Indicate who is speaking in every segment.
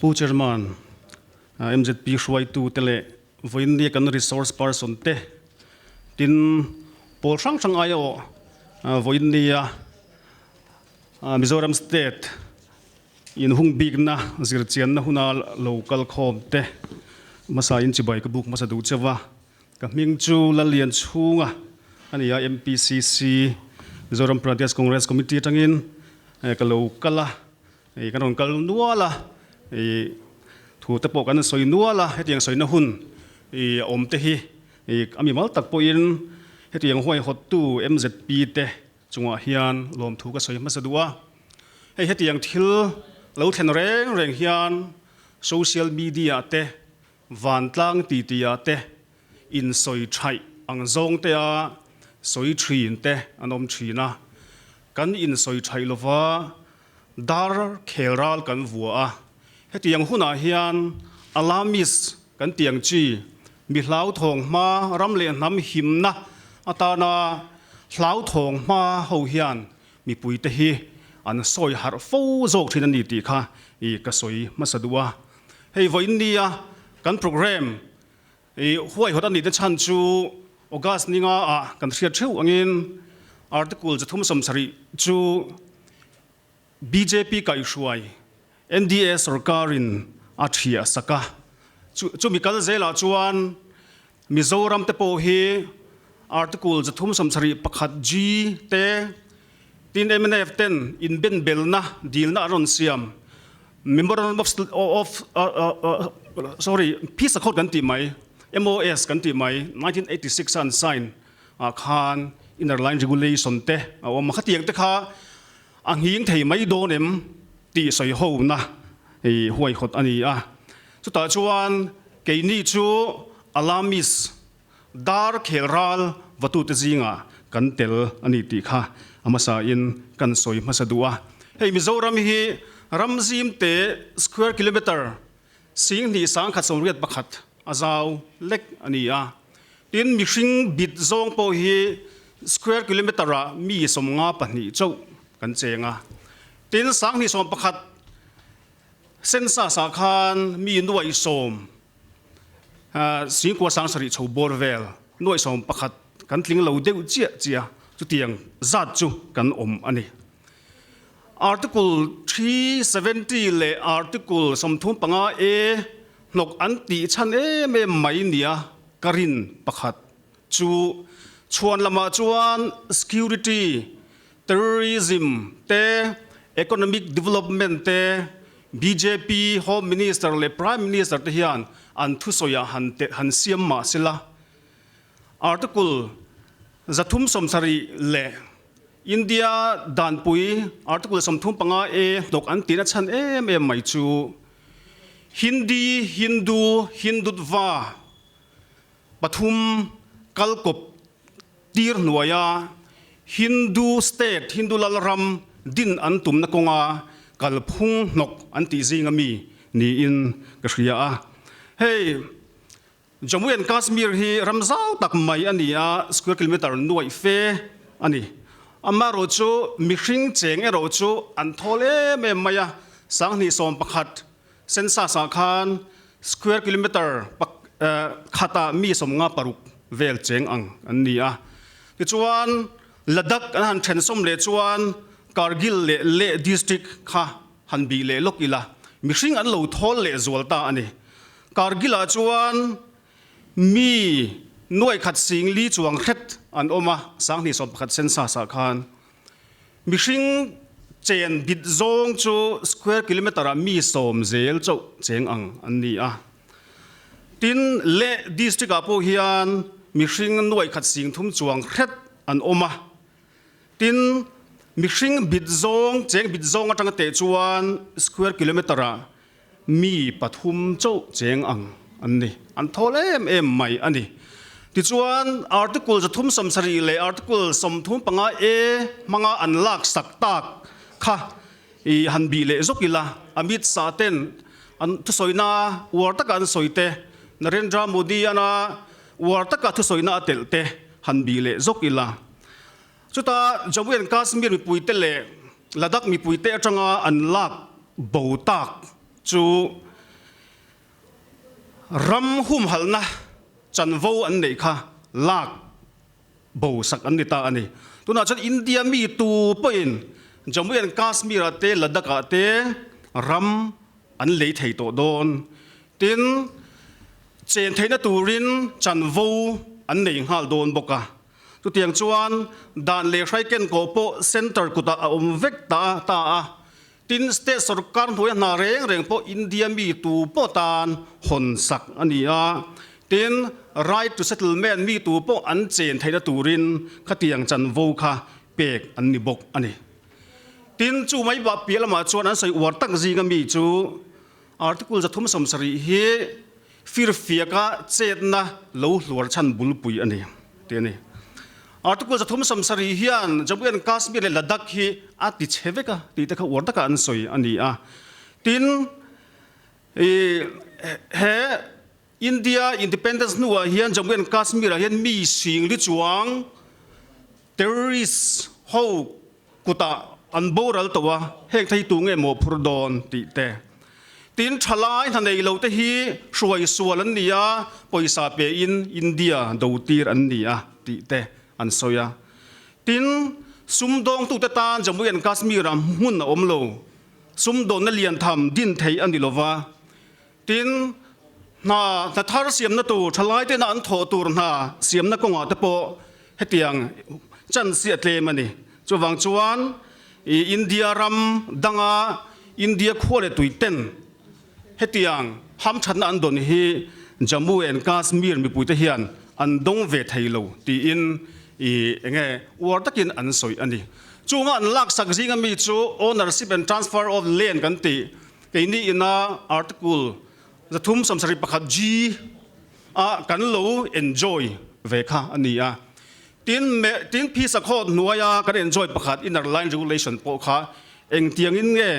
Speaker 1: Pu Chairman, mzp hruaitu te leh vawiinriah kan resource person te tin pawl hrang hrang aia awh vawiinria Mizoram state in hung bikna zirchianna huna lo kal khawm te hmasa in chibai ka buk hmasa duh che va. Ka hming chu Lalianchhunga a ni a, MPCC, Mizoram Pradesh Congress Committee atangin ka lo kal a. Ih kan rawn kal nual a, ih thu te pawh kan sawi nual a, hetiang sawina hun ih a awm te hi ih a mimal tak pawhin hetiang huaihawttu mzp te chungah hian lawmthu ka sawi hmasa duh a, hei hetiang thil lo thlen reng reng hian social media te Vantlang titia te, insawi thaih ang zawng te a sawi thin te an awm thin a, kan insawi thaih lova dar khelral kan vua a. Heti ang hunah hian Alamis kan tih ang chi mi hlauthawng hma ram leh hnam himna atana hlauthawng hma ho hian mipui te hi an sawi harh fo zawk thin a ni tih kha ka sawi hmasa duh a. Hei vawiin nia kan programme i huaihawt a nihte chhan chu August ninga a kan hriat theuh angin Article chi thum sawm sarih chu bjp kaihhruai NDA sorkarin a thiahsak a, chu mi kal zelah chuan Mizoram te pawh hi Article za thum sawm sarih pakhat G te tin MNF ten inbenbelna dilna an rawn siam Memorandum of of sorry Peace Accord kan tih mai MOS kan tih mai nineteen eighty six a an sign ah khan inner line regulation te a awm a khatiang te kha a nghing thei mai dawn em tih sawi hona hei huaihawt a ni a. Chutah chuan keini chu Alamis dar khel ral vatute zingah kan tel a ni tih kha a hmasa in kan sawi hmasa duh a. Hei Mizoram hi ram zim te square kilometre sing hnih sang khat sawmriat pakhat a zau lek a ni a. Tin mihring bit zawng pawh hi square kilometre ah mi sawmnga pahnih chauh kan cheng a. Tin sang hnih sawm pakhat Census-ah khan mi nuaihsawm Singkuo sang sarih chho bawr vel nuaihsawm pakhat kan tling lo deuh chiah chiah a, chutiang zat chu kan awm a ni. Article three seventy leh Article sawmthum panga A hnawk an tih chhan em em mai nia ka rin pakhat chu chhuan lamah chuan security Terrorism te Economic Development te bjp Home Minister leh Prime Minister te hian an thusawiah han te han siam mah se la, Article zathum sawm sarih leh India danpui Article sawmthum panga A hnawk an tihna chhan em em mai chu Hindi, Hindu, Hindutva, Pathum, kal kawp tirhnuaia Hindu state, Hindu Lalram din an tumna kawnga kalphung hnawk an tih zing a mi niin ka hria a. Hei Jammu and Kashmir hi ram zau tak mai a ni a, square kilometre nuaih fe a ni. Amaherawhchu mihring cheng erawhchu an thawl em em mai a, sanghnih sawm pakhat Census ah khan square kilometre khat ah mi sawm nga paruk vel cheng ang an ni a. Tichuan Ladakh an han then sawm leh chuan Kargil leh Leh district kha han bih leh lawk ila mihring an lo thawl leh zual ta a ni. Kargil ah chuan mi nuaih khat singli chuang hret an awm a, sanghnih sawm pakhat census ah khan Mihring chen bit zawng chu square kilometre ah mi sawm zel chauh cheng ang an ni a. Tin, Leh District ah pawh hian mihring nuaih khat sing thum chuang hret an awm a. Tin, mihring bit zawng, cheng bit zawng atang a teh chuan square kilometre ah Mi pathum chauh cheng ang an ni. An thawl em em mai a ni. Tichuan, Article zathum sawm sarih leh Article sawmthum panga A hmanga an laksak tak kha i han bih leh zawk ila, Amit Shah ten an thusawina uar taka an sawi te, Narendra Modi-ana uar taka thusawina a telh te han bih leh zawk ila. Chuta Jammu and Kashmir mipuite leh Ladakh mipuite atanga an lak bo tak chu ram humhalna chanvo an neih kha lak bo sak an ni ta a ni. Tunah chuan India mi tu pawhin Jammu and Kashmir-ah te Ladakh-ah te ram an lei thei tawh dawn. Tin, chen theihna turin chanvo an nei nghal dawn bawk a. Chutiang chuan dan leh hrai ken kawh pawh centre kutah a awm vek ta ta a, tin state sawrkar hnuaia hna reng reng pawh India mi tu pawh tan hawn sak a ni a, tin right to settlement mi tu pawh an chen theihna turin khatiang chanvo kha pek an ni bawk a ni. Tin chu mai bah piah lamah chuan an sawi uar tak zinga mi chu article za thum sawm sarih hi, Firfiaka chetna lo hluar chhan bulpui a ni, tih a ni. Article za thum samsari hian Jammu and Kashmir leh Ladakh hi a ti chhe vek a tih te kha uar takah an sawi a ni a. Tin, he India independence hnuah hian Jammu and Kashmir-ah hian mi hringri chuang, Terrorist ho kutah an boral tawh a, heng thei tu nge mawh phur dawn tih te. Tin, tha lai hna nei lo te hi hruai sual an ni a, pawisa pe in India do tir an ni a tih te an sawi a. Tin, sumdawng tu te tan Jammu and Kashmir ah hmun a awm lo, sumdawnna lian tham din theih a ni lo va, Tin, hna hnathar siamna tur thalaitena an thawh tur hna siamna kawngah te pawh hetiang chansi a tlem a ni. Chuvang chuan i India ram danga India khua leh tui ten hetiang hamthatna an dawn hi Jammu and Kashmir mipuite hian an dawng ve thei lo tiin i eng nge uar takin an sawi a ni. Chunga an laksak zinga mi chu Ownership and Transfer of Land kan tih Kei ni ina article zathum samsari pakhat G a kan lo enjoy ve kha a ni a. Tin, tin phisa khawt hnuaia kan enjoy pakhat inner line regulation pawh kha engtiangin nge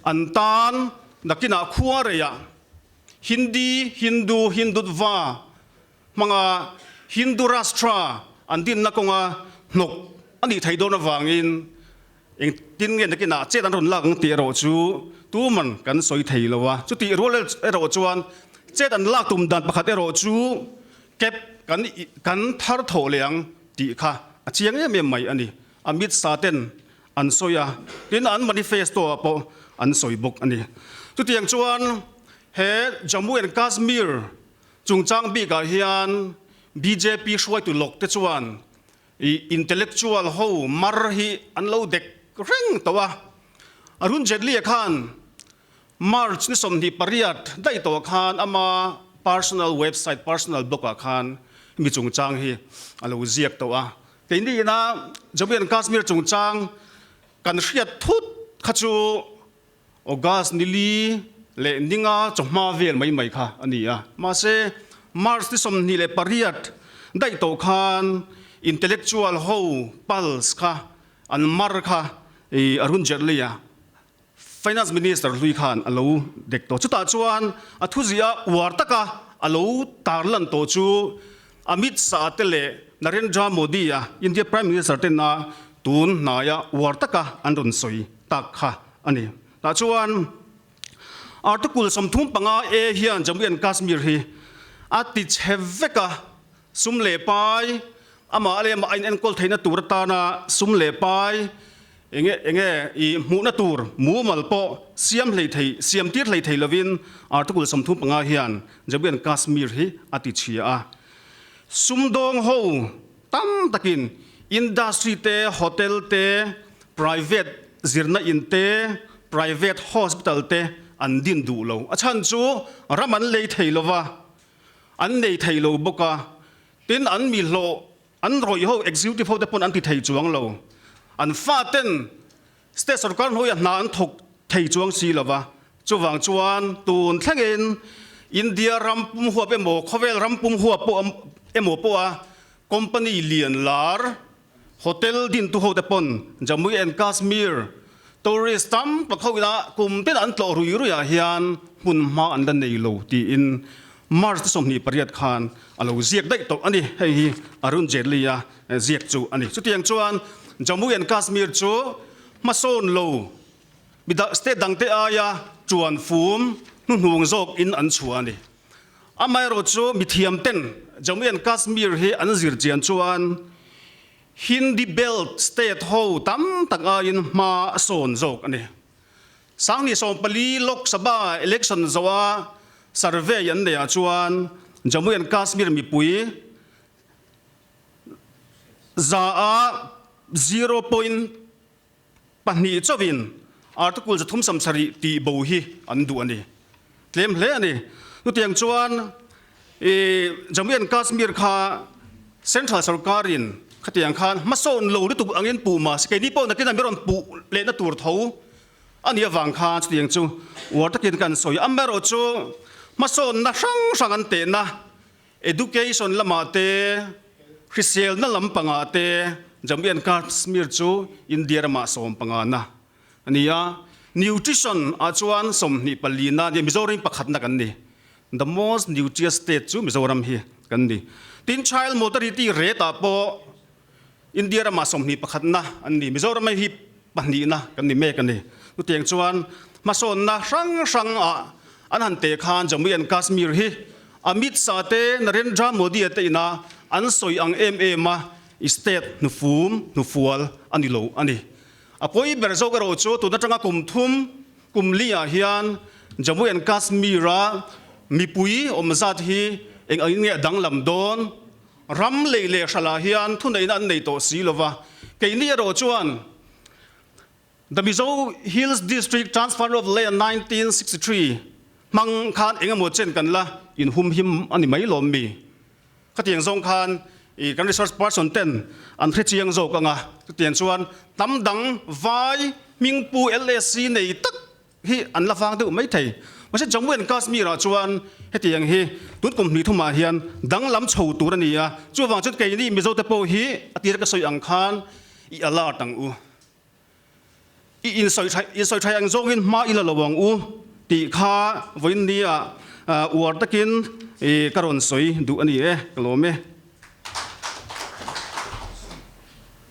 Speaker 1: an tan nakinah khuareia Hindi, Hindu, Hindutva, hmanga Hindu Rashtra an dinna kawnga hnawk a nih theih dawn avangin eng tin nge nakinah chet an rawn lak ang tih erawh chu tuman kan sawi thei lo a. Chutih rual erawh chuan chet an lak tum dan pakhat erawh chu kep kan kan thar thawh leh ang tih kha a chiang em em mai a ni. Amit Shah ten an sawi a, tin an manifesto-ah pawh an sawi bawk a ni. Chutiang chuan he Jammu and Kashmir Chungchang bik ah hian bjp hruaitu lawk te chuan intellectual ho mar hi an lo dek reng tawh a. Arun Jaitley khan March ni sawmhnih pariat daih tawh khan ama personal website, personal blog ah khan hemi chungchang hi a lo ziak tawh a. Kei niin a Jammu and Kashmir chungchang kan hriat thut kha chu, August nili leh ninga chawhma vel mai mai kha a ni a. Mahse, March ni sawmhnih leh pariat daih tawh khan intellectual ho pulse kha an mar kha a runzet lei a, Finance Minister hlui khan a lo dek tawh. Chutah chuan a thuziah uar taka a lo tarlan tawh chu Amit Shah te leh Narendra Modi-a India Prime Minister te na tun hnaia uar taka an rawn sawi tak kha a ni. Tah chuan Article sawmthum panga A hian Jammu and Kashmir hi a ti chhe vek a, sum leh pai, amah leh amah a in enkawl theihna tur atana sum leh pai Enge enge i hmuhna tur mumal pawh siam hlei thei siamtir hlei thei lovin Article sawmthum panga hian Jammu and Kashmir hi a tichhia a. Sumdawng ho tam takin industry te, hotel te, private zirna in te, private hospital te an din duh lo. A chhan chu ram an lei thei lova, an nei thei lo bawk a. Tin an mi hlawh An rawih ho executive ho te pawn an ti thei chuang lo. An fa ten state sawrkar hnuaia hna an thawk thei chuang si lo va. Chuvang chuan tun thlengin India ram pum huap emaw khawvel ram pum huap pawh emaw pawha company lian lar hotel dintu ho te pawn Jammu and Kashmir Tourist tam tak ho ina kum te dah an tlawh rui rui ah hian hmun hma an la nei lo tiin March-te sawmhnih pariat khan a lo ziak daih tawh a ni. Hei hi Arun Jaitley-a ziak chu a ni. Chutiang chuan Jammu and Kashmir chu hmasawn lo midang state dangte aia ṭuan fum hnuhnung zawk in an chhuah a ni. Amaherawhchu mithiam ten Jammu and Kashmir hi an zir chian chuan Hindi belt state ho tam tak aiin hma a sawn zawk a ni. Sangni sawm pali Lok Sabha election zoa survey an nei ah chuan Jammu and Kashmir mipui za a zero point Pahnih chauhin Article za thum sam sarih tih bo hi an duh a ni. Tlem hle a ni. Chutiang chuan i Jammu and Kashmir kha Central Sarkarin khatiang khan hmasawn lo lutuk angin puh mahse keini pawh nakin an bi rawn puh lehna tur tho a nih avang khan chutiang chu uar takin kan sawi a. Amaherawhchu hmasawnna hrang hrang an tehna Education lamah te, hriselna lam pangah te Jammu and Kashmir chu India ramah sawm panga na a ni a. Nutrition ah chuan sawmhnih pali na a ni a, Mizoram hi pakhatna kan ni. The most nutritious state chu Mizoram hi kan ni. Tin child mortality rate ah pawh India rama sawmhnih pakhatna an ni, Mizoram-a hi pahnihna kan ni mek a ni. Chutiang chuan hmasawnna hrang hrangah an han teh khan Jammu and Kashmir hi Amit Shah te Narendra Modi-a te ina an sawi ang em em a state hnufum hnufual a ni lo a ni. A pawi ber zawk erawh chu tun atanga kum thum kum liah hian Jammu and Kashmir-a mipui awmzat hi eng ang i nge a danglam dawn? Ram lei leh hralah hian thuneihna an nei tawh si lova, keini erawh chuan The Mizo Hills District Transfer of Land nineteen sixty three hmang khan engemaw chen kan la inhumhim a ni mai lawm mi? Khatiang zawng khan i kan research person ten an hre chiang zawk ang a, chutiang chuan tam dang vai hmingpu LAC nei tak hi an la vang deuh mai thei. Mahse Jammu and Kashmir-ah chuan hetiang hi tun kum hnih thumah hian danglam chho tur a ni a, chuvang chuan kei ni Mizote pawh hi a tir ka sawi ang khan i alert ang u, i insawi thai ang zawngin hma ila lo ang u tih kha vawiin nia uar takin ka rawn sawi duh a ni e, ka lawm e.